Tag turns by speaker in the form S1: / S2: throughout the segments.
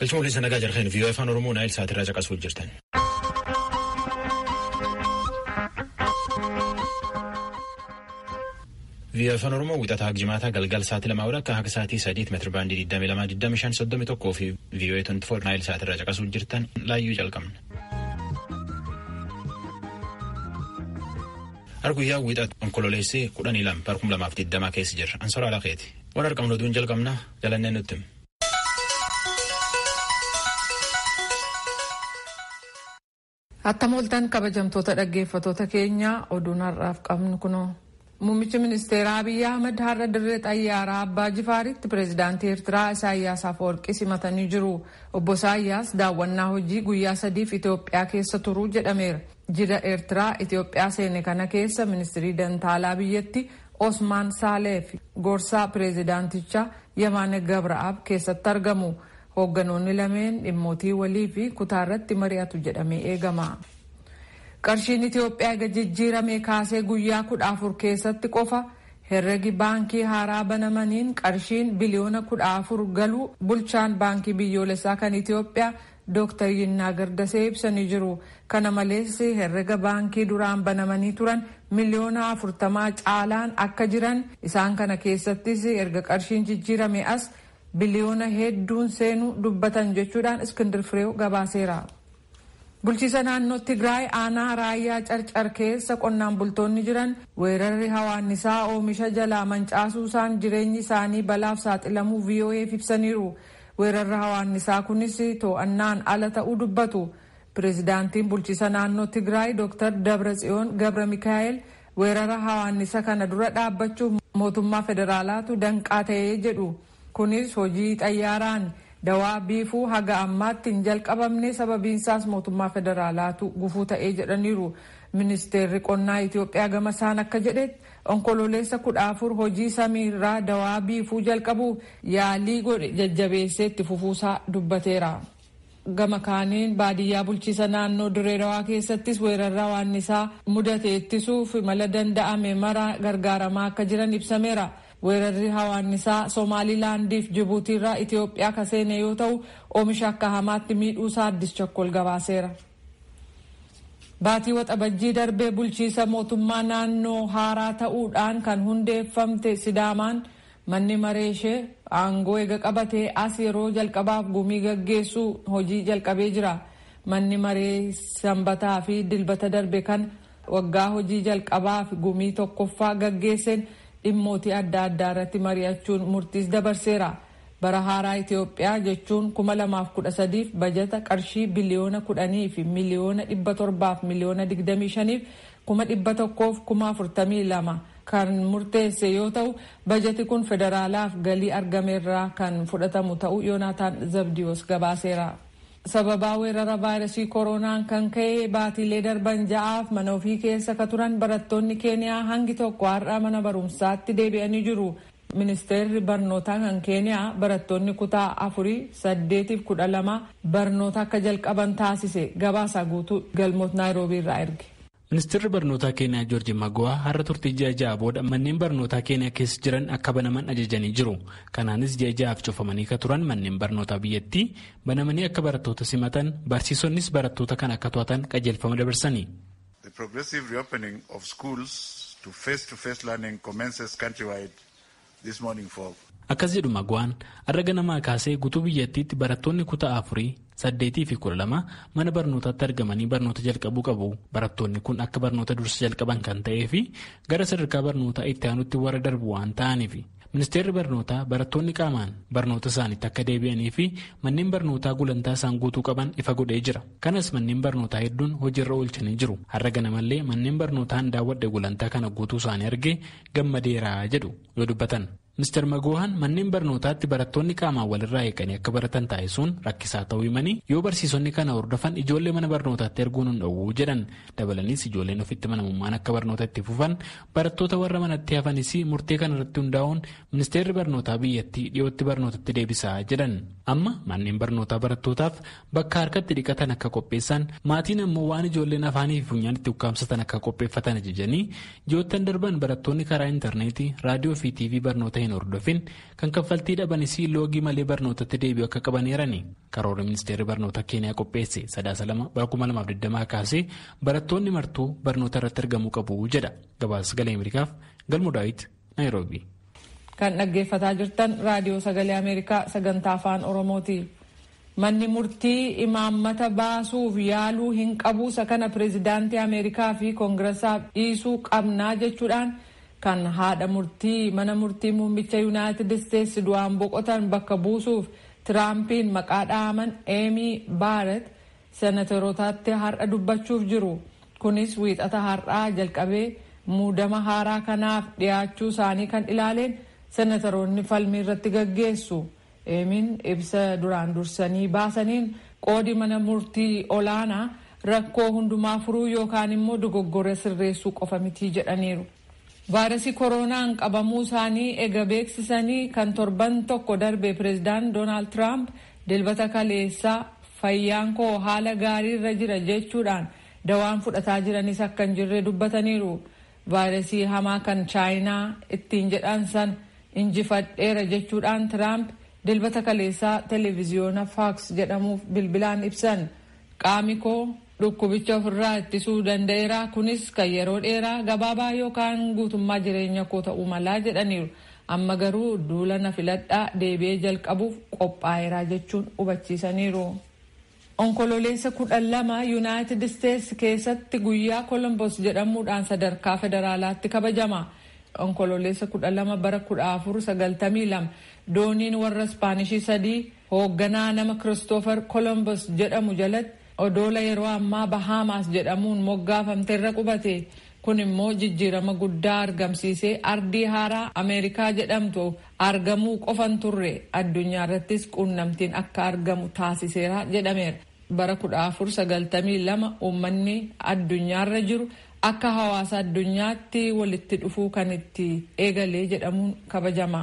S1: Galchuma waliin sanagaa jarheen vii'oo afaan Oromoo naayil saatirraa caqasuu jirtan. Vii'oo afaan Oromoo wixataa jimaataa galgal sa'aatii lamaa wal akka haga sa'aatii sadiit meetira baandii 22,25,31 fi vii'oo 24 naayil saatirraa caqasuu jirtan laayyuu jalqabna. Har guyyaa wixat onkololeessi kudhanii lama bara kuma lamaaf digdamaa keessa jirra. Ansoraa lakeeti. Waan argamnu duun jalqabna jalannee nutti.
S2: Attam ooltan kabajamtoota dhaggeeffatoota keenyaa oduun har'aaf qabnu kunoo. Muummichi ministeeraa Abiyyi Ahmad har'a dirree xayyaaraa Abbaa Jifaaritti pireezidaantii Eertiraa Isaayyaas Afawarqii simatanii jiru. Obbo Isaayyaas daawwannaa hojii guyyaa sadiif Itoophiyaa keessa turuu jedhameera. Jila Eertiraa Itoophiyaa seene kana keessa ministirii dantaalaa biyyatti Osmaan Saalee fi gorsaa pireezidaantichaa Yemaane Gabra'aab keessatti argamu. Hoogganoonni lameen dhimmootii walii fi kutaa irratti mari'atu jedhamee eegama. Qarshiin Itiyoophiyaa ega jijjiirame kaasee guyyaa kudha afur keessatti qofa herregi baankii haaraa banamaniin qarshiin biliyoona kudha afur galuu bulchaan baankii biyyoolessaa kan Itiyoophiyaa Dooktar Yinnaagar Dasee ibsanii jiru. Kana malees herrega baankii duraan banamanii turan miliyoona afurtamaa caalaan akka jiran, isaan kana keessattis erga qarshiin jijjiirame as biliyoona hedduun seenu dubbatan jechuudhaan Iskindir Fireew gabaaseera. Bulchiisa naannoo Tigraay aanaa Raayyaa Carcar keessa qonnaan bultoonni jiran weerarri hawaannisaa oomisha jalaa mancaasuusaan jireenyi isaanii balaaf saaxilamuu VOA'f ibsaniiru. Weerarri hawaannisaa kunis too'annaan ala ta'uu dubbatu. Pireezidaantiin bulchiisa naannoo Tigraay Dooktar Dabratsiyoon Gabramikaa'eel weerara hawaannisa kana dura dhaabbachuuf mootummaa federaalaatu danqaa ta'e jedhu. Kunis hojii xayyaaraan dawaa biifuu haga ammaatti hin jalqabamne sababiinsaas mootummaa federaalaatu gufuu ta'e jedhaniiru. Ministeerri qonnaa Itoophiyaa gamasaan akka jedhetti Onkololeessa 14 hojii samii irraa dawaa biifuu jalqabuuf yaalii godhe jajjabeessee itti fufuusaa dubbateera. Gama kaaniin baadiyyaa bulchiisa naannoo Dirree Dawaa keessattis weerarra waannisaa mudate ittisuuf mala danda'ame mara gargaaramaa akka jiran ibsameera. Weerarri hawaannisaa Somaalii Laandiif Jibuutiirraa Itoophiyaa ka seene yoo ta'u oomisha akka hamaatti miidhuusaa Addis Chakkol gabaaseera. Baatii Waxabajjii darbe bulchiisa mootummaa naannoo haaraa ta'uu dhaan kan hundeeffamte Sidaamaan manni maree ishee aangoo ega qabatee as yeroo jalqabaaf gumii gaggeessuu hojii jalqabee jira. Manni maree Sanbataa fi Dilbata darbe kana waggaa hojii jalqabaaf gumii tokkoffaa gaggeesseen dhimmootii adda addaa irratti mari'achuun murtiis dabarseera. Bara haaraa Itiyoophiyaa jechuun 2013f bajata qarshii biliyoona 10 fi miliyoona 700 fi miliyoona 25 fi kuma 100 fi kuma 42 kan murteesse yoo ta'u, bajati kun federaalaaf galii argame irraa kan fudhatamu ta'uu Yonaataan Zabdiyoos gabaaseera. Sababaa weerara vaayrasii koroonaan kan ka'e baatiilee darban ja'aaf mana ofii keessa ka turan barattoonni Keeniyaa hangi tokko har'a mana barumsaatti deebi'anii jiru. Ministeerri barnootaa kan Keeniyaa barattoonni kutaa afurii, saddeetiif kudha lamaa barnoota akka jalqaban taasise. Gabaasaa guutuu Galmoot Naayiroobii irraa erge. Ministeerri barnootaa
S3: Keeniyaa Joorji Magowaa har'a turtii ji'a ja'a booda manneen barnootaa Keeniyaa keessa jiran akka banaman ajajanii jiru. Kanaanis ji'a ja'aaf cufamanii ka turan manneen barnootaa biyyattii banamanii akka barattoota simatan barsiisonnis barattoota kana akka to'atan qajeelfama dabarsani. The progressive
S4: reopening of schools to face to face learning commences countrywide this morning for. Akkas jedhu Magwaan,
S3: har'a ganamaa kaasee gutuu biyyattiitti barattoonni kutaa afurii, saddeetii fi kudha lama mana barnootaatti argamanii barnoota jalqabuu qabu. Barattoonni kun akka barnoota dursa jalqaban kan ta'ee fi gara sadarkaa barnootaa itti aanutti warra darbu waan ta'aniifi. Ministeerri barnootaa barattoonni qaamaan barnoota isaaniitti akka deebi'anii fi manneen barnootaa gulantaa isaan guutuu qaban ifa godhee jira. Kanas manneen barnootaa hedduun hojiirra oolchanii jiru. Har'a ganamallee manneen barnootaan daawwadhe gulantaa kana guutuu isaanii argee gammadeera jedhu yoo dubbatan. Mr. Magoohan manneen barnootaatti barattoonni qaamaan walirraa eeganii akka baratan taasisuun rakkisaa ta'uu himanii yoo barsiisonni kana hordofan ijoollee mana barnootaatti erguun hin dhowwu jedhan Dabalaniis ijoolleen ofitti amanamummaan akka barnoota itti fufan barattoota warra manatti hafanis murtee kana irratti hundaa'uun ministeerri barnootaa biyyattii dhiyootti barnootatti deebisaa jedhan. Amma manneen barnootaa barattootaaf bakka harkatti dhiqatan akka qopheessan maatiin ammoo waan ijoolleen afaanii fi funyaan itti ukkaamsatan akka qopheeffatan ajajanii ji'oottan darban barattoonni karaa intarneetii raadiyoo fi tiivii barnoota hin hordofin kan kaffaltii dhabanis loogii malee barnootatti deebi'u akka qabaneerani. Karoorri ministeerri barnootaa Keeniyaa qopheesse sadaasa lama bara 2020 kaasee barattoonni martuu barnoota irratti argamuu qabu jedha. Gabaasa sagalee Ameerikaaf Galmo Daawit Naayiroobi. Kan
S2: dhaggeeffataa jirtan raadiyoo sagalee Ameerikaa sagantaa afaan Oromooti. Manni murtii imaammata baasuuf yaaluu hin qabu isa kana pireezidaantii Ameerikaa fi koongirasaaf dhiisuu qabnaa jechuudhaan kan haadha murtii mana murtii muummicha Yuunaayitid Isteetsi du'aan boqotan bakka buusuuf Tiraampiin maqaa dhahaman Eemii Baaret Senaterotaatti har'a dubbachuuf jiru. Kunis Wiixata har'aa jalqabee muudama haaraa kanaaf dhiyaachuu isaanii kan ilaaleen Senataroonni falmii irratti gaggeessu. Eemiin ibsa duraan dursanii baasaniin qoodi mana murtii olaanaa rakkoo hundumaa furuu yookaan immoo dogoggora sirreessuu qofa mitii jedhaniiru. Vaayirasii koroonaan qabamuu isaanii ega beeksisanii kan torban tokko darbe Pireezidaant Doonaald Tiraamp Dilbata kaleessaa fayyaan koo haala gaarii irra jira jechuudhaan dawaan fudhataa jiranis akka hin jirre dubbataniiru. Vaayirasii hamaa kan Chaayinaa ittiin jedhan sana injifadheera jechuudhaan Tiraamp Dilbata kaleessaa televiziyoona Faaks jedhamuuf bilbilaan ibsan. Qaami koo. Dhukkubicha ofirraa ittisuu danda'eeraa kunis kan yeroo dheeraa, gabaabaa yookaan guutummaa jireenya koo ta'uu malaa jedhaniiru. Amma garuu duula na filadhaa deebi'ee jalqabuuf qophaa'eeraa jechuun hubachiisaniiru. Onkololeessa kudha lama Yunaayitid Isteets keessatti guyyaa Kolombos jedhamuudhaan sadarkaa federaalaatti kabajama. Onkololeessa kudha lama bara kudha afur sagaltamii lama dooniin warra Ispaanishii sadii Hoogganaa nama Kiristoofer Kolombos jedhamu jalatti odoola yeroo ammaa Bahaamaas jedhamuun moggaafamte irra qubate. Kun immoo jijjiirama guddaa argamsiisee ardii haaraa Ameerikaa jedhamtu argamuu qofa hin turre addunyaa irrattis quunnamtiin akka argamu taasiseera jedhameera. Bara 1492 uummanni addunyaarra jiru akka hawaasa addunyaatti walitti dhufuu kan itti eegale jedhamuun kabajama.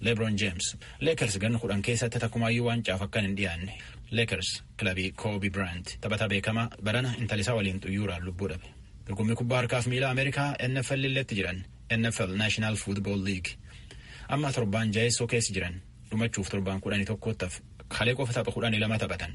S1: Lebron James, Lakers ganna kudhan keessatti takkumaayyuu waancaaf akkan hin dhiyaanne. Lakers, kilabii Kobe Bryant, taphataa beekamaa barana intala isaa waliin xuyyuuraan lubbuu dhabe. Dorgommii kubbaa harkaaf miilaa Ameerikaa NFL illeetti jiran, NFL National Football League. Amma torbaan jaheessoo keessa jiran, dhumachuuf torbaan kudhanii tokkoottaf kalee qofa tapha kudhanii lama taphatan.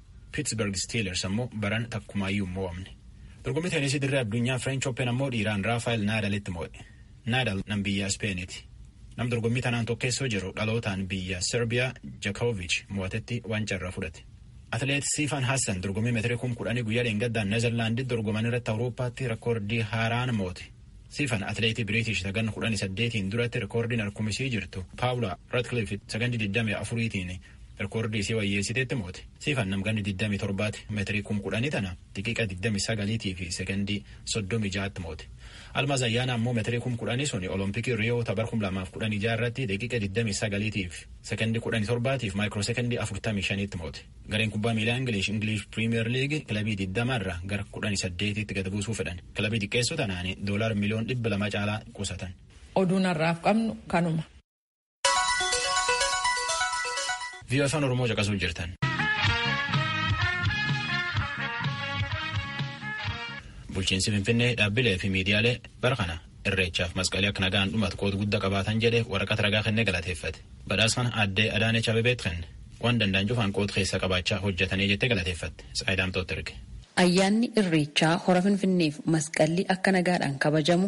S1: Pittsburgh Steelers ammoo baran takkumaayyuu hin mo'amne. Dorgommii teenisii dirree addunyaa French Open ammoo dhiiraan Raafaayil Naadalitti mo'e. Naadal nam biyya Ispeeniiti. Nam dorgommii tanaan tokkeessoo jiru dhalootaan biyya Serbiyaa Jakovic mo'atetti waancaa irraa fudhate. Atileet Siifan Hassan dorgommii meetirii kum kudhanii guyyaa dheengaddaa Neezerlaanditti dorgoman irratti Awurooppaatti rekoordii haaraan moote. Siifan atileetii Biriitish sagan kudhanii saddeetiin duratti rekoordiin harkumisii jirtu Paawulaa Ratcliffe sagandii digdamii afuriitiin Rikoordii isii wayyeessiteetti moote. Siifan nam ganni 27ti meetirii kum kudhanii tana daqiiqa 29 fi sekondii 36tti moote. Almaaz Ayyaanaa ammoo meetirii kum kudhanii suni Olompikii Riyoo ta bar 2016 irratti daqiiqa 29 fi sekondii 17tiif maayikiroo sekondii 45tti moote. Gareen kubbaa miilaa Ingilish Ingilish Piriimiyeer Liigii kilabii 20 irraa gara 18tti gad buusuu fedhan. Kilabii xiqqeessuu tanaan doolaar miliyoon 200 caalaa qusatan. Oduun har'aaf
S2: qabnu kanuma.
S1: Viiyoo afaan Oromoo caqasuu jirtan. Bulchiinsi Finfinnee dhaabbilee fi miidiyaalee bara kana irreechaaf masqalii akka nagaan dhumatu qooda guddaa qabaatan jedhee waraqaa ragaa kennee galateeffate. Badhaasa kana aaddee Adaanech Abebeet kenne. Waan danda'an cufaan qooda keessa qabaachaa hojjetanii jettee galateeffatte. Saayidaamtoota erge.
S5: Ayyaanni
S1: Irreechaa
S5: hora Finfinneef masqalli akka
S1: nagaadhaan
S5: kabajamu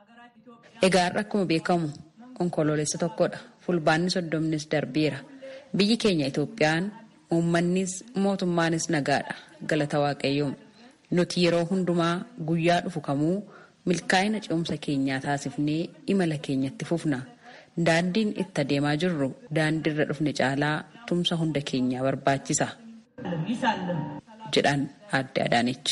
S6: Egaa
S5: har'a akkuma beekamu Onkoloolessa tokkodha. Fulbaanni soddomnis darbeera. Biyyi keenya Itoophiyaan uummannis mootummaanis nagaadha. Galata Waaqayyoo. Nuti yeroo hundumaa guyyaa dhufu kamuu milkaa'ina ce'umsa keenyaa taasifnee imala keenya itti fufna. Daandiin itti adeemaa jirru daandiirra dhufne caalaa tumsa hunda keenyaa barbaachisa. jedhan Aadde Adaanech.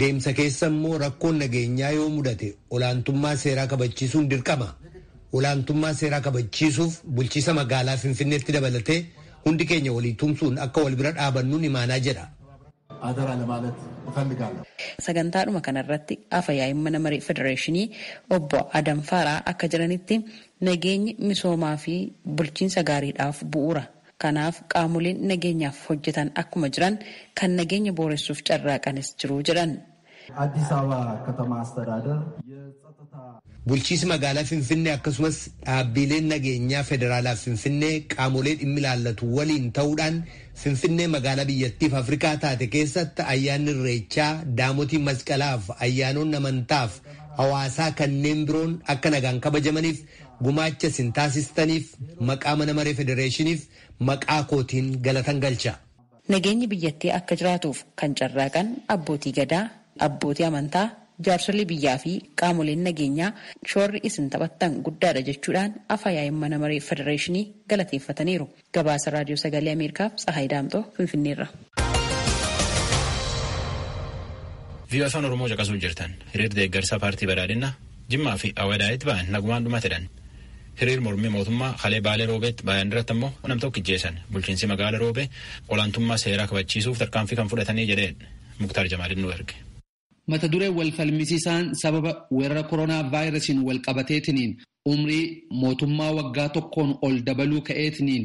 S7: Deemsa keessa immoo rakkoon nageenyaa yoo mudate olaantummaa seeraa kabachiisuun dirqama. Olaantummaa seeraa kabachiisuuf bulchiisa magaalaa Finfinneetti dabalatee hundi keenya walii tumsuun akka wal bira dhaabannuun imaanaa jedha.
S8: Sagantaadhuma
S5: kanarratti Afa Yaa'iin Mana Maree Federeeshinii Obbo Adam Faaraah akka jedhanitti, nageenyi misoomaa fi bulchiinsa gaariidhaaf bu'uura. Kanaaf qaamoleen nageenyaaf hojjetan akkuma jiran kan nageenya booressuuf carraaqanis jiru jedhan. Addis Ababa
S8: Katama Astadaadar Yetsaxataa.
S7: Bulchiisi magaalaa Finfinnee akkasumas dhaabbiileen nageenyaa federaalaaf Finfinnee qaamolee dhimmi ilaallatu waliin ta'uudhaan Finfinnee magaalaa biyyattiif Afrikaa taate keessatti ayyaanni Irreechaa, Daamotii Masqalaaf ayyaanoonni amantaaf hawaasaa kanneen biroon akka nagaan kabajamaniif Gumaacha isin taasistaniif maqaa Mana Maree Federeeshiniif maqaa kootiin galatan galcha. Nageenyi biyyattii
S5: akka jiraatuuf kan carraaqan Abbootii Gadaa, Abbootii Amantaa, Jaarsolii biyyaa fi qaamoleen nageenyaa shoorri isin taphattan guddaadha jechuudhaan Afa-yaa'iin Mana Maree Federeeshinii galateeffataniiru. Gabaasa Raadiyoo Sagalee Ameerikaaf Tsahaay Daamxoo Finfinneerra.
S1: Viiyoo Afaan Oromoo caqasuu jirtan hiriir deeggarsa paartii badhaadhinna Jimmaa fi Awadaayitti ba'an nagumaan dhumatedhan. Hiriir mormii mootummaa kalee baalee roobeetti baay'an irratti ammoo nam tokko ijjeessan bulchiinsi magaala roobee olaantummaa seeraa kabachiisuuf tarkaanfii kan fudhatanii jedheen Muktaar Jamaaliin nu erge. Mata duree wal
S9: falmisiisaan sababa weerara koronaa vaayirasiin wal qabateetiniin umrii mootummaa waggaa tokkoon ol dabaluu ka'eetiniin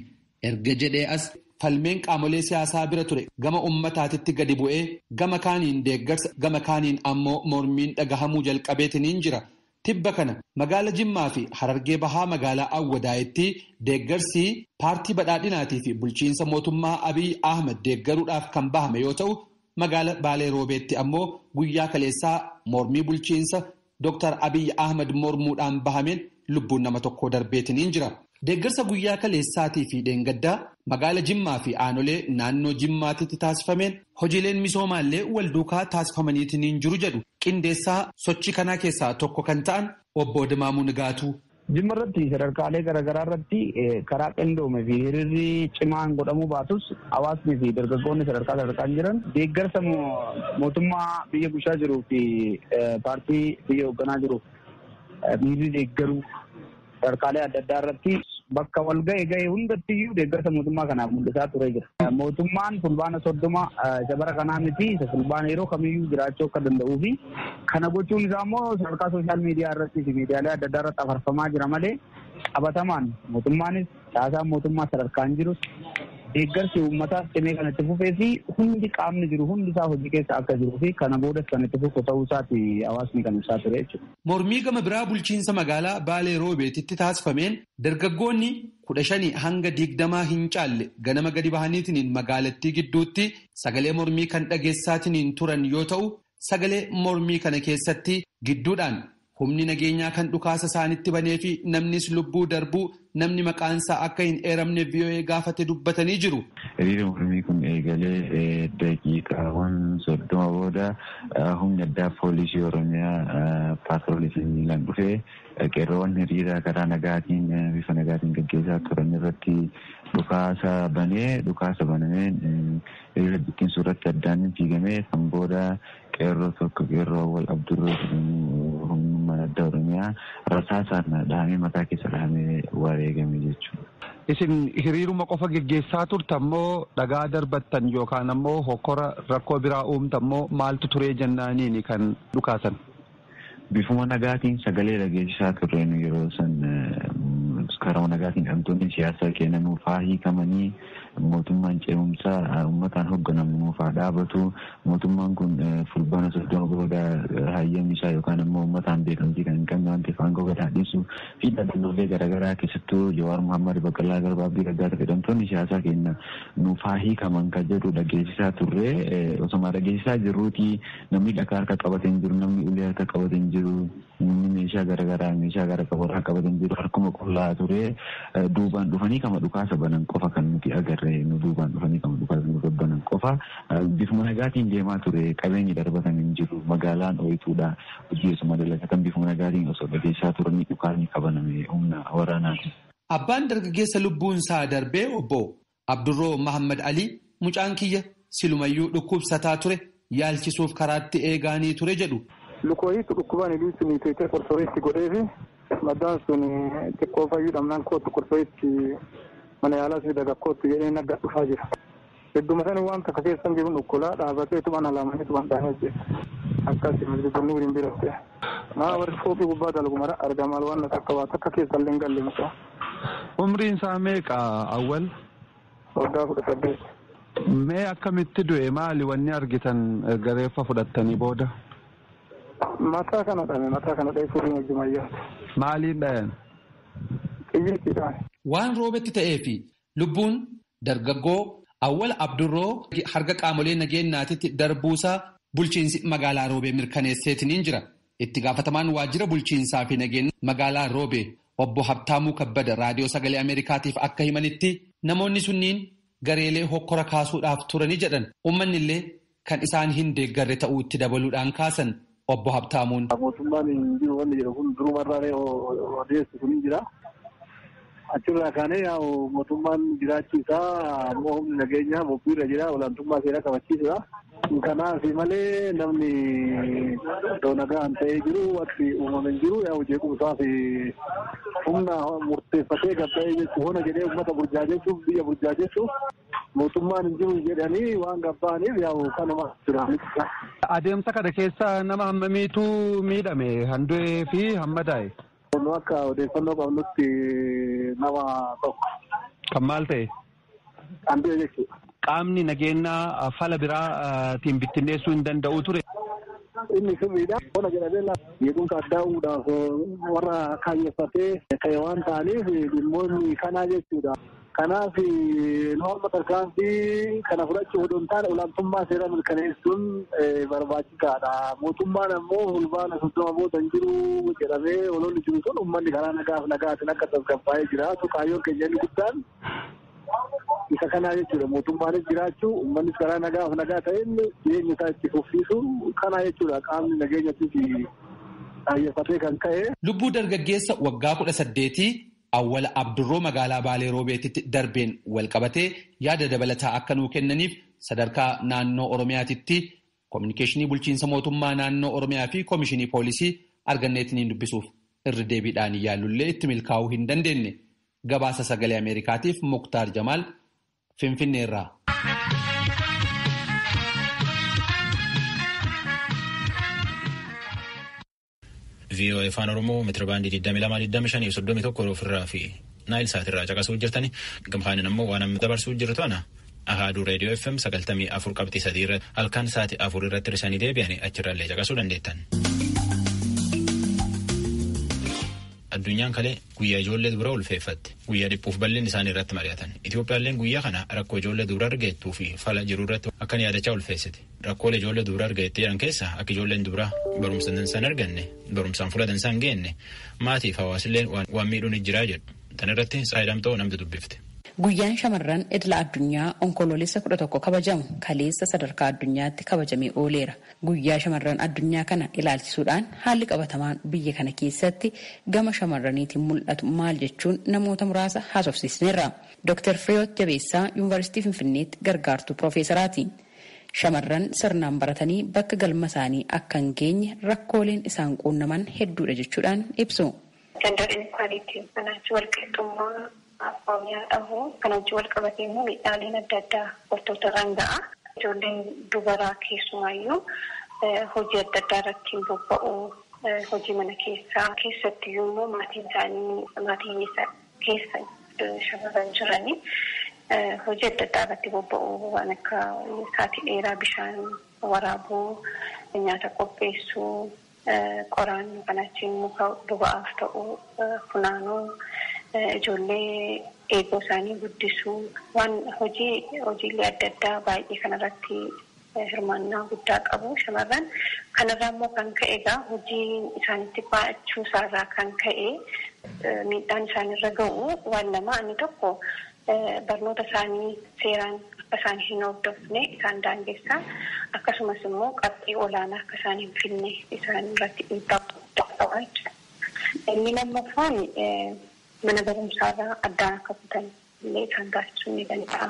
S9: erga jedhee as falmeen qaamolee siyaasaa bira ture gama ummataatitti gadi bu'ee gama kaaniin deeggarsa gama kaaniin ammoo mormiin dhagahamuu jalqabeetiniin jira. Tibba kana magaala Jimmaa fi Harargee Bahaa magaalaa Awwadaayitti deeggarsi paartii badhaadhinaatii fi bulchiinsa mootummaa Abiy Ahmed deeggaruudhaaf kan bahame yoo ta'u, magaala Baalee Roobeetti ammoo guyyaa kaleessaa mormii bulchiinsa Dr. Abiy Ahmed mormuudhaan bahameen lubbuun nama tokkoo darbeetiniin jira. Deeggarsa guyyaa kaleessaatii fi dheengaddaa magaala Jimmaa fi aanolee naannoo Jimmaatitti taasifameen hojiileen misoomaallee walduukaa taasifamaniitiin jiru jedhu qindeessaa sochii kanaa keessaa tokko kan ta'an obbo Dimaamuu Nigaatuu. Jimma irratti
S10: sadarkaalee garaagaraa irratti karaa qindoome fi hiriirri cimaan godhamuu baatus hawaasni fi dargaggoonni sadarkaa sadarkaan jiran deeggarsa mootummaa biyya bulchaa jiruu fi paartii biyya hoogganaa jiruuf miirri deeggaruu Sadarkaalee adda addaa irratti bakka wal ga'e ga'e hundatti iyyuu deeggarsa mootummaa kanaaf mul'isaa turee jira. Mootummaan fulbaana soddoma isa bara kanaa miti isa fulbaana yeroo kamiyyuu jiraachuu akka danda'uu fi kana gochuun isaa immoo sadarkaa sooshaal miidiyaa irratti fi miidiyaalee adda addaa irratti afarfamaa jira malee qabatamaan mootummaanis Caasaan mootummaa sadarkaan jirus deeggarsi uummataas cimee kan itti fufee fi hundi qaamni jiru hundi isaa hojii keessa akka jiruu fi kana boodas kan itti fufu ta'uu isaati hawaasni kan ibsaa ture jechuudha. Mormii gama biraa
S9: bulchiinsa magaalaa Baalee Roobeetitti taasifameen dargaggoonni kudha shanii hanga digdamaa hin caalle ganama gadi bahaniitiniin magaalattii gidduutti sagalee mormii kan dhageessaatiniin turan yoo ta'u Sagalee mormii kana keessatti gidduudhaan humni nageenyaa kan dhukaasa isaanitti banee fi namnis lubbuu darbuu namni maqaan isaa akka hin eeramne VOA gaafate dubbatanii jiru. Hiriira mormii kun
S11: eegalee daqiiqaawwan soddoma booda humni addaa poolisii Oromiyaa paatroolii fi miilaan dhufee qeerroowwan hiriira karaa nagaatiin bifa nagaatiin gaggeessaa turan irratti dhukaasa banee dhukaasa banameen Hiriira bittinsuu irratti addaan ni diigame. San booda qeerroo tokko qeerroo Awwal Abdurroo jedhamu humnummaan addaa Oromiyaa rasaasaan dhahamee mataa keessa dhahamee wareegame jechuudha. Isin
S12: hiriiruma qofa geggeessaa turtan moo dhagaa darbattan yookaan ammoo hokkora rakkoo biraa uumtan moo maaltu turee jennaaniini kan dhukaasan? Bifuma
S11: nagaatiin sagalee dhageessisaa turre nu yeroo san karama nagaatiin hidhamtoonni siyaasaa keenya nuuf haa hiikamanii mootummaan ce'umsaa uummataan hogganamu nuuf haa dhaabatu mootummaan kun fulbaana soddoma booda hayyamni isaa yookaan ammoo uummataan beekamtii kan hin qabne waan ta'eef aangoo gad haa dhiisu fi dhaabbilee garaagaraa keessattuu Jawaar Muhammad Baqqalaa Garbaa Abdii Raggaasa hidhamtoonni siyaasaa keenya nuuf haa hiikaman kan jedhu dhageessisaa turre osoma dhageessisaa jirruuti Namni dhakaa harka qabate hin jiru, namni ulee harka qabate hin jiru, namni meeshaa garagaraa meeshaa gara qabu harka qabate hin jiru, harkuma qullaa ture. Duubaan dhufanii kama dhukaasa banan qofa kan nuti agarre nu duubaan dhufanii kama dhukaasa nurra banan qofa. Bifuma nagaatiin deemaa ture qabeenyi darbatan hin jiru magaalaan ooyituudha hojii osuma dalagatan bifuma nagaatiin osoo dhageessaa turanii dhukaasni kabaname humna waraanaati. Abbaan dargaggeessa
S9: lubbuunsaa darbee obbo Abdurroo Mahaammad Alii, Mucaan kiyya silumayyuu dhukkubsataa ture, yaalchisuuf karaatti eegaanii ture jedhu. Lukoohiitu dhukkubaan
S13: Iliitti miiteetee Qorsooyiitti godheefi maddaan sun xiqqoo fayyuu dhabnaan koottu Qorsooyiitti mana yaalaa si fidaga koottu jedhee na gad dhufaa jira. Gidduma sani waan takka keessan jiruun ukkolaa dhaabateetuma na laamaniituma dhaanee ajjeese. Akkasi Masjidunnuuriin biratti. Maa warri fooqii gubbaa dalgu mara arga maal waan takka waa takka keessa illee hin galle mucaa. Umriin
S12: isaa meeqa Awwal? Waggaa
S13: kudha saddeet. Mee
S12: akkamitti du'e maali wanni argitan erga reeffa fudhattanii booda?
S13: Mataa kana dhame mataa kana dha'e furiin wajjumayyaati. Maaliin dhayan? Xiyyiitiidhaan. Waan
S9: roobetti ta'ee fi Lubbuun dargaggoo Awwal Abdurroo harga qaamolee nageennaatitti darbuusaa bulchiinsi magaalaa Roobee mirkaneesseetiniin jira. Itti gaafatamaan waajjira bulchiinsaa fi nageenya magaalaa Roobee obbo Habtaamuu Kabbada Raadiyoo Sagalee Ameerikaatiif akka himanitti namoonni sunniin gareelee hokkora kaasuudhaaf turani jedhan. Ummannillee kan isaan hin deeggarre ta'uu itti dabaluudhaan kaasan obbo Habtaamuun. Mootummaan hin jiru
S13: wanni jedhu kun durumarraalee odeessu kun hin jira. Achirraa kaanee yaa'u mootummaan jiraachuu isaa ammoo humni nageenyaa bobbiirra jira olaantummaa seeraa kabachiisudha. Kanaaf malee namni iddoo nagaan ta'ee jiru wanti uumame hin jiru yaa'u jeequmsaa fi humna murteeffatee gabba'ee jechuun hona jedhee uummata burjaajessuuf biyya burjaajessuuf Mootummaan hin jiru jedhanii waan gabba'aniif yaa'u kanuma jira. Adeemsa
S12: kana keessa nama hammamiitu miidhame kan du'ee fi hamma daa'e. Kun akka
S13: odeeffannoo qabnutti nama tokko. Kan maal
S12: ta'e? Kan du'e
S13: jechuudha. Qaamni nageenyaa
S12: fala biraatiin bittinneessuu hin danda'u ture. Inni
S13: sirriidha. Bona jedhamee beekumsa addaa uumuudhaaf warra kaayyeffatee ta'e waan ta'aniif dhimmoonni kanaa jechuudha. Kanaaf nu amma tarkaanfii kana fudhachuu odoo hin taane olaantummaa seeraa mirkaneessuun barbaachisaadha. Mootummaan ammoo Fulbaana 30 booda hin jiru jedhamee ololli jiru sun uummanni karaa nagaaf nagaatiin akka tasgabbaa'ee jiraatu kaayyoon keenya inni guddaan isa kanaa jechuudha. Mootummaanis jiraachuu, uummannis karaa nagaaf nagaa ta'een jireenya isaa itti fufsiisu kanaa jechuudha. Qaamni nageenyattis kaayyeffatee kan ka'e. Lubbuu dargaggeessa
S9: waggaa kudha saddeetii Awwala Abdurroo Magaalaa Baalee Roobeetitti darbeen walqabatee yaada dabalataa akka nuu kennaniif sadarkaa Naannoo Oromiyaatitti Kominikeeshinii Bulchiinsa Mootummaa Naannoo Oromiyaa fi Komishinii Poolisii arganneetiniin dubbisuuf irra deebiidhaan yaallullee itti milkaa'uu hin dandeenye. Gabaasa Sagalee Ameerikaatiif Muktaar Jamaal Finfinneerraa.
S1: VOA Afaan Oromoo meetirabaandii 22,25,31 ofirraa fi naayil saatirraa caqasuu jirtani. Gamkaanin ammoo waan amma dabarsuu jiru to'ana. Ahaaduu reediyoo FM 94 qabxii 3 irratti halkan sa'aatii 4 irratti hir'isanii deebi'anii achirraallee caqasuu dandeettan. Addunyaan kalee guyyaa ijoollee dubaraa ulfeeffatte guyyaa dhiphuuf bal'inni isaanii irratti mari'atan Itoophiyaalleen guyyaa kana rakkoo ijoollee dubaraa argeettuu fi fala jiru irratti akkan yaadachaa ulfeessite. Rakkoolee ijoollee dubra argate jedhan keessa akka ijoolleen dubra barumsa dansaa hin arganne barumsaan fuula dansaa hin geenne maatiif hawaasillee waan miidhuun ni jira jedhu. Tan irratti Tsaayii Damxoo namni dubbifte. Guyyaan shamarran
S5: idila addunyaa onkoloolessa kudha tokko kabajamu kaleessa sadarkaa addunyaatti kabajamee ooleera. Guyyaa shamarran addunyaa kana ilaalchisuudhaan haalli qabatamaan biyya kana keessatti gama shamarraniitiin mul'atu maal jechuun namoota muraasa haasofsiisneerra. Dr. Firiyoot Jabeessaa Yuunivarsiitii Finfinneetti gargaartuu Piroofeesaraati. Shamarran sirnaan baratanii bakka galma isaanii akka hin geenye rakkooleen isaan quunnaman hedduudha jechuudhaan ibsu. Gender Inequality, Kanaa wajjin walqixxummaa
S14: abboomiyaa dhabuu, kana wajjin walqabatee immoo miidhaaleen adda addaa dubartoota irraan ga'a. Ijoolleen dubaraa keessumaayyuu hojii adda addaa irratti hin bobba'u. Hojii mana keessaa keessattiyyuu immoo maatiin isaanii maatii hiyyeessaa dha. keessa shamarran jirani hojii adda addaa irratti bobba'uu waan akka saatii dheeraa bishaan waraabuu, nyaata qopheessuu, qoraan kan achiin muka boba'aaf ta'u funaanuu, ijoollee eegoo isaanii guddisuu waan hojii hojiilee adda addaa baay'ee kanarratti hirmaannaa guddaa qabu shamarran. Kanarraa immoo kan ka'e egaa hojiin isaanitti baay'achuu isaarraa kan ka'e miidhaan isaanirra ga'u waan lama. Inni tokko barnoota isaanii seeraan akka isaan hin hordofne isaan daangessa. Akkasumas immoo qabxii olaanaa akka isaan hin fidne isaan irratti dhiibbaa guddaa qaba jechuudha. Inni lammaffaan mana barumsaarraa addaan akka kutan illee isaan taasisuu ni danda'a.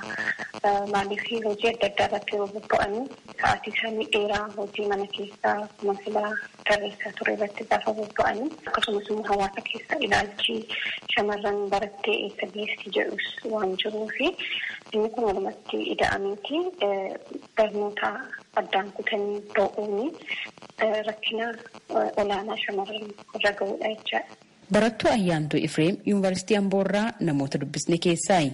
S14: Maaliif hojii adda addaa irratti yeroo bobba'anu sa'aatii isaanii dheeraa hojii mana keessaa akkuma sila tarreessaa ture irratti gaafa bobba'an akkasumas immoo hawaasa keessa ilaalchi shamarran barattee eessa geessi jedhus waan jiruuf inni kun walumatti ida'ameeti barnoota addaan kutanii ba'uun rakkina olaanaa shamarran irra ga'uudha jechaadha. Barattuu Ayyaantuu
S5: Ifreem Yuunvarsiitii Amboo irraa namoota dubbisne keessaayi.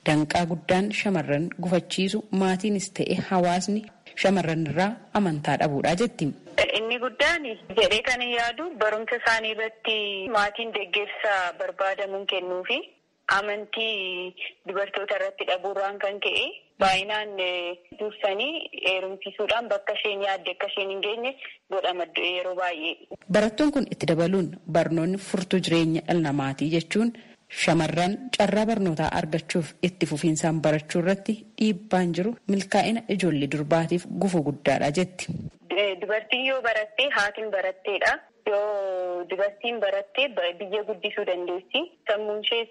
S5: Danqaa guddaan shamarran gufachiisu maatiinis ta'e hawaasni shamarranirraa amantaa dhabuudha jetti. Inni guddaan
S14: jedhee kanin yaadu barumsa isaanii irratti maatiin deggersa barbaadamuun kennuufi. Amantii dubartoota irratti dhabuurraan kan ka'e baay'inaan dursanii heerumsiisuudhaan bakka isheen yaadde akka isheen hin geenye godhama yeroo baay'ee. Barattuun kun itti
S5: dabaluun, barnoonni furtuu jireenya dhala namaati jechuun, shamarran carraa barnootaa argachuuf itti fufiinsaan barachuu irratti dhiibbaan jiru milkaa'ina ijoollee durbaatiif gufuu guddaadha jetti. Dubartiin
S14: yoo baratte haati hin baratteedha. Yoo dubartiin baratte biyya guddisuu dandeessi. Sammuunshees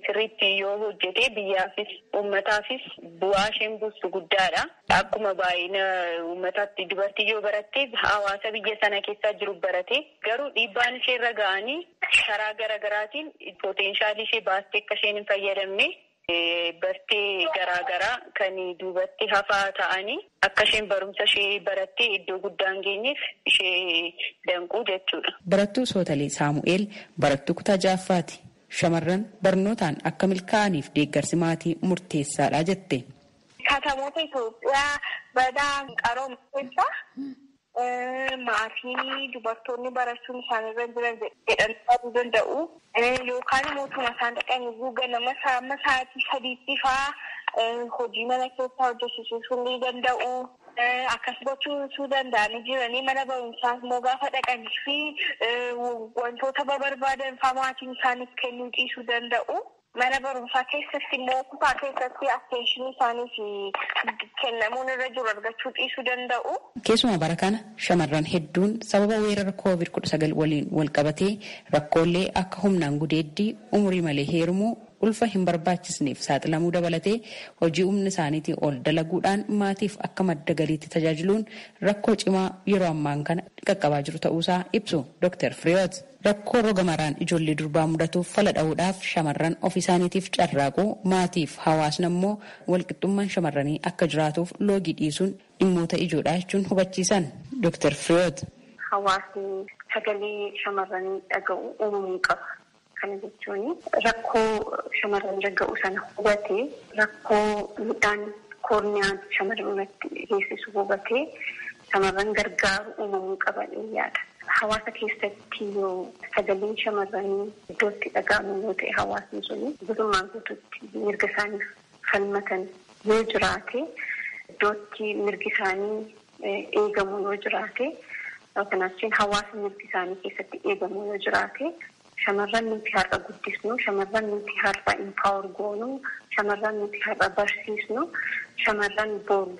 S14: sirriitti yoo hojjete biyyaafis uummataafis bu'aa isheen buustu guddaadha. Akkuma baay'ina uummataatti dubartiin yoo baratte hawaasa biyya sana keessaa jiru barate garuu dhiibbaan isheerra ga'anii karaa garagaraatiin poteenshaalii ishee baastee akka isheen hin fayyadamne bartee garaa garaa kan duubatti hafaa ta'anii akka isheen barumsa ishee barattee iddoo guddaa hin geenyeef ishee danquu jechuudha. Barattuu Sootalee
S5: Saamu'eel barattuu kutaa ja'affaati. Shamarran barnootaan akka milkaa'aniif deeggarsi maatii murteessaadha jette. Katamoota
S14: Itoophiyaa badaa qarooma keessaa maatiin dubartoonni barachuun isaan irra hin jiran jedhanii yaaduu danda'u. Yookaan immoo utuma isaan dhaqanii iyyuu ganama isaa amma sa'aatii sadiitti faa hojii mana keessaa hojjechiisuu ni danda'u. Akkas gochuu utuu danda'anii jiranii mana barumsaa immoo gaafa dhaqanii fi wantoota barbaadan faa maatiin isaaniif kennuu dhiisuu danda'u. Mana barumsaa keessatti immoo kutaa keessatti attention isaaniif kennamuun irra jiru argachuu dhiisuu danda'u. Keessumaa bara kana
S5: shamarran hedduun sababa weerara Covid kudha sagal waliin walqabatee rakkoollee akka humnaan gudeeddii, umurii malee heerumuu, ulfa hin barbaachisneef saaxilamuu dabalatee hojii humna isaaniitii ol dalaguudhaan maatiif akka madda galiitti tajaajiluun rakkoo cimaa yeroo ammaan kana qaqqabaa jiru ta'uusaa ibsu Doktar Firihiwoot. Rakkoo roga maraan ijoollee durbaa mudatuuf fala dhahuudhaaf shamarran ofiisaaniitiif carraaqu, maatiif hawaasni ammoo walqixxummaan shamarranii akka jiraatuuf loogii dhiisuun dhimmoota ijoodha jechuun hubachiisan Doktar Fireewoot. Hawaasni
S14: sagalee shamarranii dhaga'u uumamuu qaba. Kana jechuun rakkoo shamarranirra ga'u sana hubatee, rakkoo miidhaan koorniyaan shamarran irratti geessisu hubatee, shamarran gargaaru uumamuu qaba jedheen yaada. Hawaasa keessatti yoo sagaleen shamarranii iddoo itti dhaga'amu yoo ta'e, hawaasni suni guutummaa guutuutti mirga isaaniif falmatan yoo jiraate, iddoo itti mirgi isaanii eegamu yoo jiraate, yoo kanaa achiin hawaasa mirgi isaanii keessatti eegamu yoo jiraate, shamarran nuti har'a guddisnu, shamarran nuti har'a empower goonu, shamarran nuti har'a barsiisnu, shamarran boru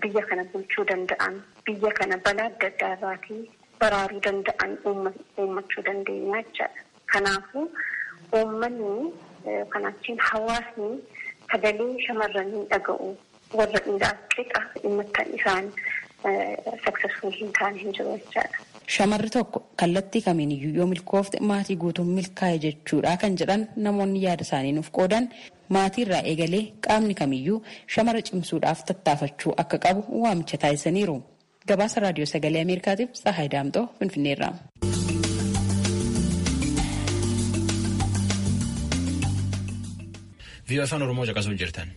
S14: biyya kana bulchuu danda'an, biyya kana balaa adda addaa irraatii baraaruu danda'an uummachuu dandeenyaa jechaadha. Kanaafuu uummanni kanaa achiin hawaasni sagalee shamarran hin dhaga'u. Warra dhiiraaf qixa dhimmattan isaan successful hin taane hin jiru jechaadha. Shamarri tokko
S5: kallattii kamiiniyyuu yoo milkoofte maatii guutuun milkaa'e jechuudha kan jedhan namoonni yaada isaanii nuuf qoodan Maatiirraa eegalee qaamni kamiyyuu shamara cimsuudhaaf tattaafachuu akka qabu waamicha taasisaniiru. Gabaasa Raadiyoo Sagalee Ameerikaatiif Tsahaay Daamxoo Finfinneerraa.
S1: Viiyoo afaan Oromoo caqasuu jirtan.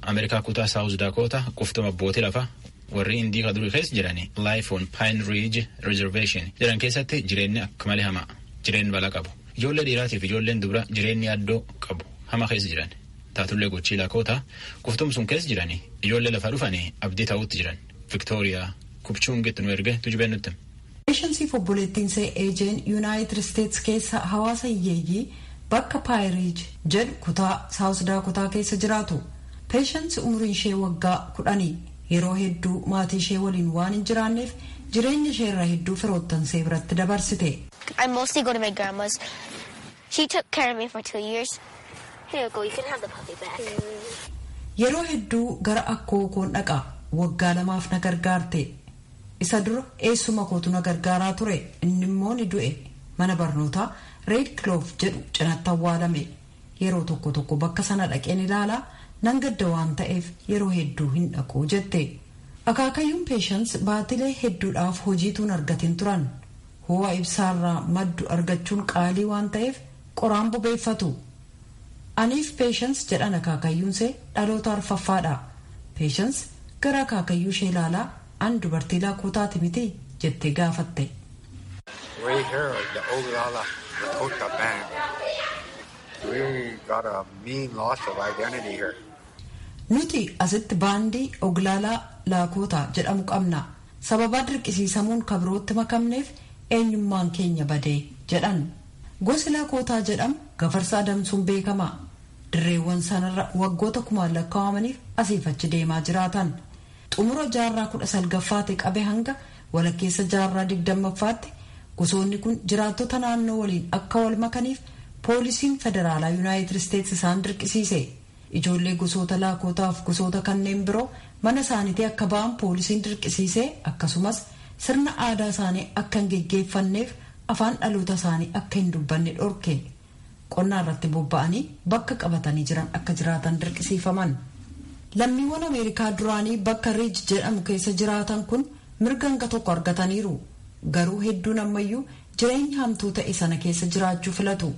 S1: Ameerikaa kutaa Saawuz Daakootaa quftuma abbootii lafaa Warri Indii ka durii keessa jiran Life on Pine Ridge Reservation jedhan keessatti jireenyi akka malee hamaa. Jireenyi balaa qabu. Ijoollee dhiiraatiif ijoolleen dubra jireenyi yaaddoo qabu hamaa keessa jiran. Taatullee gochii Lakoota quftum sun keessa jiran ijoollee lafa dhufanii abdii ta'uutti jiran. Viktooriyaa Kupchuungitti nu erge tujubeen nutti. Peeshansiif
S15: obboleettiinsee Eejeen Yuunaayitid Isteets keessa hawaasa hiyyeeyyii bakka Paayiriij jedhu kutaa Saawus Daakotaa keessa jiraatu. Peeshansi umuriinshee waggaa kudhani. Yeroo hedduu maatiishee waliin waan hin jiraanneef jireenya ishee irra hedduu firoottansee biratti dabarsite.
S16: She took care of me for two years. Here you go, you can have the puppy back. Yeroo
S15: hedduu gara akkoo koon dhaqa. Waggaa lamaaf na gargaarte. Isa dura eessuma kootu na gargaaraa ture. Innimmoo ni du'e. Mana barnootaa Reed Clove jedhu cinatti awwaalame. Yeroo tokko tokko bakka sana dhaqeen ilaala, nan gadda waan ta'eef yeroo hedduu hin dhaqu, jette. Akaakayyuun Peeshans baatilee hedduudhaaf hojii utuu hin argatin turan. Hoo'a ibsaarraa maddu argachuun qaalii waan ta'eef qoraan bobeeffatu. Aniif Peeshans jedhan akaakayyuunsee dhaloota arfaffaadha. Peeshans gara akaakayyuushee ilaalaa An dubartii Laakotaati miti? jettee gaafatte. We hear
S17: the Oglala Lakota band. We got a mean loss of identity here. Nuti
S15: asitti baandii Oglaalaa Laakootaa jedhamu qabna. Sababaa dirqisiisamuun ka birootti makamneef eenyummaan keenya bade, jedhan. Gosi Lakootaa jedhamu gafarsa adamsuun beekama. Dirreewwan sanarra waggoota kumaan lakkaawamaniif asiif achi deemaa jiraatan. Xumura jaarraa 19ffaati qabe hanga walakkeessa jaarraa 20ffaatti gosoonni kun jiraattota naannoo waliin akka wal makaniif poolisiin federaalaa Yunaayitid Isteets isaan dirqisiise. Ijoollee gosoota Laakootaa fi gosoota kanneen biroo mana isaanitii akka ba'an poolisiin dirqisiisee akkasumas sirna aadaa isaanii akka hin geggeeffanneef afaan dhaloota isaanii akka hin dubbanne dhorke. Qonnaa irratti bobba'anii bakka qabatanii jiran akka jiraatan dirqisiifaman. Lammiiwwan Ameerikaa duraanii bakka Riij jedhamu keessa jiraatan kun mirga hanga tokko argataniiru. Garuu hedduun ammayyuu jireenya hamtuu ta'e sana keessa jiraachuu filatu.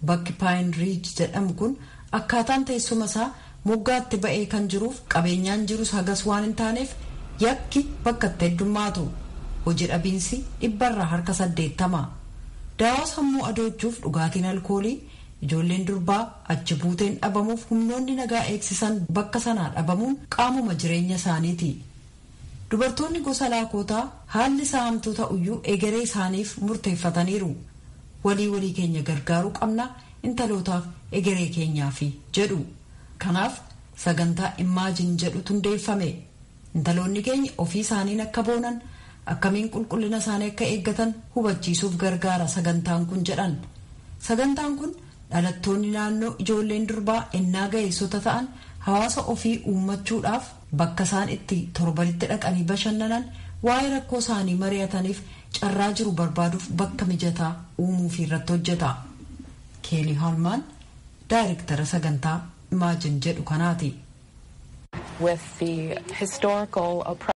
S15: Bakki Paayin Riij jedhamu kun akkaataan teessuma isaa moggaa itti ba'ee kan jiruuf qabeenyaan jirus hagas waan hin taaneef yakki bakka itti heddummaatu. Hoji dhabiinsi dhibbarraa harka 80. Daawaa sammuu adoochuuf dhugaatiin alkoolii, ijoolleen durbaa, achi buuteen dhabamuuf humnoonni nagaa eegsisan bakka sanaa dhabamuun qaamuma jireenya isaaniiti. Dubartoonni gosa Laakootaa haalli isaa hamtuu ta'uyyuu egeree isaaniif murteeffataniiru. Walii walii keenya gargaaruu qabna, intalootaaf, egeree keenyaafi, jedhu. Kanaaf, sagantaa Imagine jedhutu hundeeffame. Intaloonni keenya ofii isaaniin akka boonan, akkamiin qulqullina isaanii akka eeggatan hubachiisuuf gargaara sagantaan kun jedhan. Sagantaan kun dhalattoonni naannoo ijoolleen durbaa ennaa ga'eessota ta'an hawaasa ofii uummachuudhaaf, Bakka isaan itti torbanitti dhaqanii bashannanan, waa'ee rakkoo isaanii mari'ataniif carraa jiru barbaaduuf bakka mijataa uumuufiirratti hojjeta. Keelii Haalmaan daayrektara sagantaa Imagine jedhu kanaati.